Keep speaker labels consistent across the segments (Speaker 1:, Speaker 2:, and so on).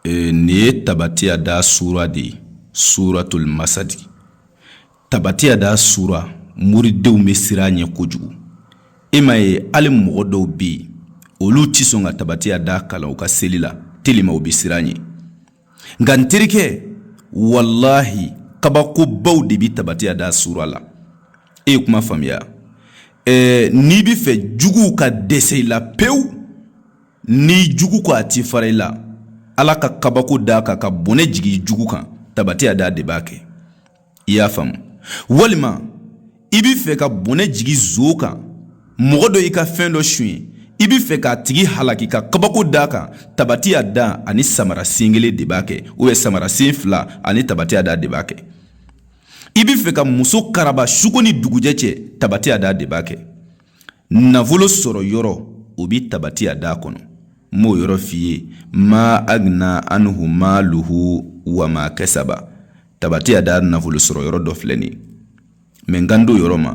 Speaker 1: nin ye tabatiya da sura de ye suratuli masadi tabatiya da sura moridenw bɛ siran a ɲɛ kojugu i m'a ye hali mɔgɔ dɔw bɛ yen olu tɛ sɔn ka tabatiya da kalan u ka seli la telima u bɛ siran a ɲɛ nka n terikɛ walahi kabakobaw de bɛ tabatiya da sura la e ye kuma faamuya ɛɛ n'i bɛ fɛ juguw ka dɛsɛ i la pewu N'i jugu ko a tɛ fara i la ala ka kabako d'a kan ka bɔnɛ jigin jugu kan tabatiya da de b'a kɛ i y'a faamu walima i bɛ fɛ ka bɔnɛ jigin zon kan mɔgɔ dɔ y'i ka fɛn dɔ sonya i bɛ fɛ k'a tigi halaki ka kabako d'a kan tabatiya da ani samara sen kelen de b'a kɛ o ye samara sen fila ani tabatiya da de b'a kɛ i bɛ fɛ ka muso karaba su ko ni dugujɛ cɛ tabatiya da de b'a kɛ nafolo sɔrɔ yɔrɔ o bɛ tabatiya da kɔnɔ n b'o yɔrɔ f'i ye ma agina anhu maaluhu wa ma kasaba tabatiya da nafolo sɔrɔ yɔrɔ dɔ filɛ nin ye mɛ n kan t'o yɔrɔ ma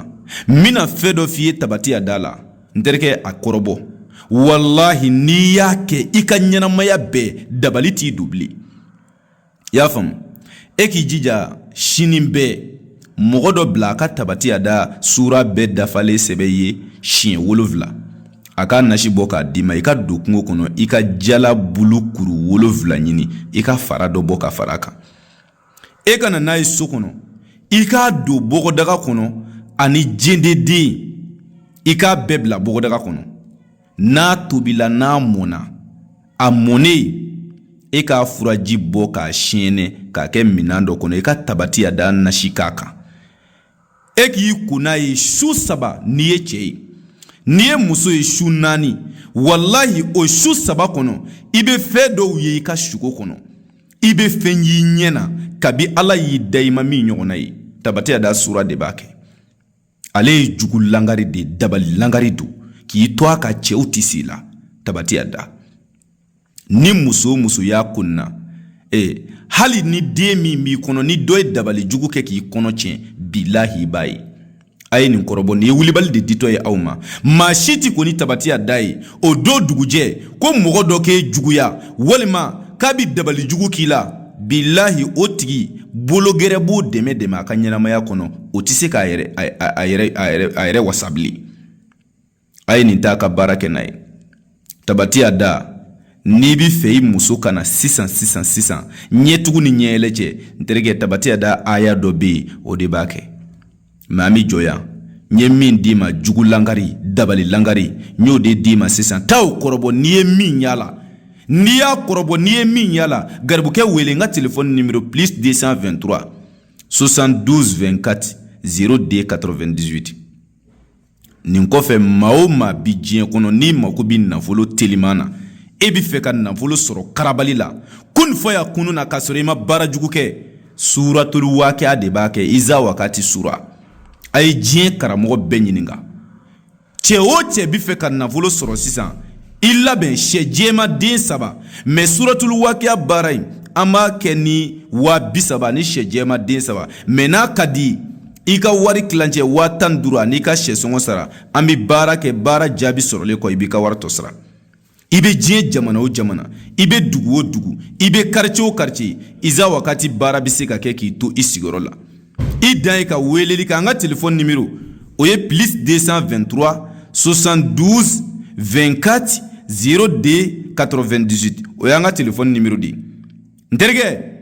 Speaker 1: n bɛna fɛn dɔ f'i ye tabatiya da la n terikɛ a kɔrɔbɔ walahi n'i y'a kɛ i ka ɲɛnamaya bɛɛ dabali t'i don bilen i y'a faamu e k'i jija sini i bɛ mɔgɔ dɔ bila a ka tabatiya da sura bɛɛ dafalen sɛbɛn i ye siɲɛ wolonfila a k'a nasi bɔ k'a d'i ma i ka don kungo kɔnɔ i ka jala bulu kuru wolonfila ɲini i k'a fara dɔ bɔ k'a fara a kan e ka na n'a ye so kɔnɔ i k'a don bɔgɔdaga kɔnɔ ani jendeden i k'a bɛɛ bila bɔgɔdaga kɔnɔ n'a tobila n'a mɔnna a mɔnen e k'a furaji bɔ k'a siɲɛnɛ k'a kɛ minɛn dɔ kɔnɔ i ka tabatiya da nasi k'a kan e k'i ko n'a ye su saba n'i ye cɛ ye n'i ye muso ye su naani walahi o su saba kɔnɔ i bɛ fɛn dɔw ye i ka suko kɔnɔ i bɛ fɛn y'i ɲɛ na kabi ala y'i da i ma min ɲɔgɔnna ye tabatiya da sura de b'a kɛ ale ye jugu langari de dabali langari don k'i to a ka cɛw tɛ se i la tabatiya da ni muso o muso y'a kunna ee hali ni den min b'i kɔnɔ ni dɔ ye dabali jugu kɛ k'i kɔnɔ tiɲɛ bilahi i b'a ye a ye nin kɔrɔbɔ nin ye wulibali de ditɔ ye aw ma maa si t'i ko ni tabatiya da ye o don dugujɛ ko mɔgɔ dɔ k'e juguya walima k'a bɛ dabali jugu k'i la bilahi o tigi bolo gɛrɛ b'o dɛmɛ dɛmɛ a ka ɲɛnamaya kɔnɔ o tɛ se ka a yɛrɛ wasa bilen a ye nin ta ka baara kɛ n'a ye tabatiya da n'i bɛ fɛ i muso ka na sisan sisan sisan ɲɛtugu ni ɲɛyɛlɛ cɛ n terikɛ tabatiya da aya dɔ bɛ yen o de b'a kɛ Mɛ an bɛ jɔ yan n ye min d'i ma jugu lagari dabali lagari n y'o de d'i ma sisan taa o kɔrɔbɔ n'i ye min y'a la n'i y'a kɔrɔbɔ n'i ye min y'a la garibukɛ wele n ka telefɔni nimero plus 223 72 24 02 98 nin kɔfɛ maa o maa bi diɲɛ kɔnɔ n'i mako bɛ nafolo teliman na e bɛ fɛ ka nafolo sɔrɔ karabali la ko nin fɔ y'a kunun na k'a sɔrɔ i ma baara jugu kɛ suratuli wakiya de b'a kɛ iza wakati sura a ye diɲɛ karamɔgɔ bɛɛ ɲininka cɛ o cɛ bɛ fɛ ka nafolo sɔrɔ sisan i labɛn shɛ jɛman den saba mɛ suratuli wakiya baara in an b'a kɛ ni waa bisaba ni shɛ jɛman den saba mɛ n'a ka di i ka wari tilancɛ waa tan ni duuru an'i ka shɛ sɔngɔ sara an bɛ baara kɛ baara jaabi sɔrɔlen kɔ i b'i ka wari tɔ sara i bɛ diɲɛ jamana o jamana i bɛ dugu o dugu i bɛ karice o karice iza wakati baara bɛ se ka kɛ k'i to i sigiyɔrɔ la i dan ye ka weleli kɛ an ka telefɔni nimero o ye plus 223 72 24 02 98 o y'an ka telefɔni nimero de ye n terikɛ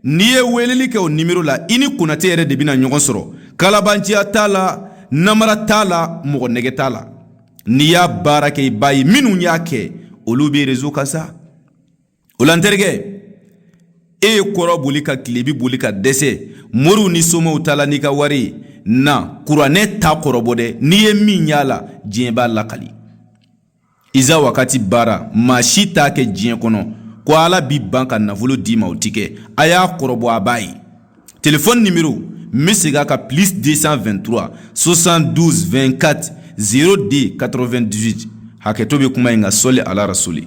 Speaker 1: n'i ye weleli kɛ o nimero la i ni konate yɛrɛ de bɛna ɲɔgɔn sɔrɔ kalabanciya t'a la namara t'a la mɔgɔ nɛgɛn t'a la n'i y'a baara kɛ i b'a ye minnu y'a kɛ olu bɛ rezo kan sa o la n terikɛ e ye kɔrɔn boli ka tilebi boli ka dɛsɛ moriw ni somaw ta la n'i ka wari ye na kuranɛ ta kɔrɔbɔ dɛ n'i ye min y'a la diɲɛ b'a lakali iza wakati baara maa si t'a kɛ diɲɛ kɔnɔ ko ala b'i ban ka nafolo d'i ma o ti kɛ a y'a kɔrɔbɔ a b'a ye telefɔni nimero n bɛ segin a kan plus 223 72 24 02 98 hakɛto bɛ kuma in ka sɔli ala rasuli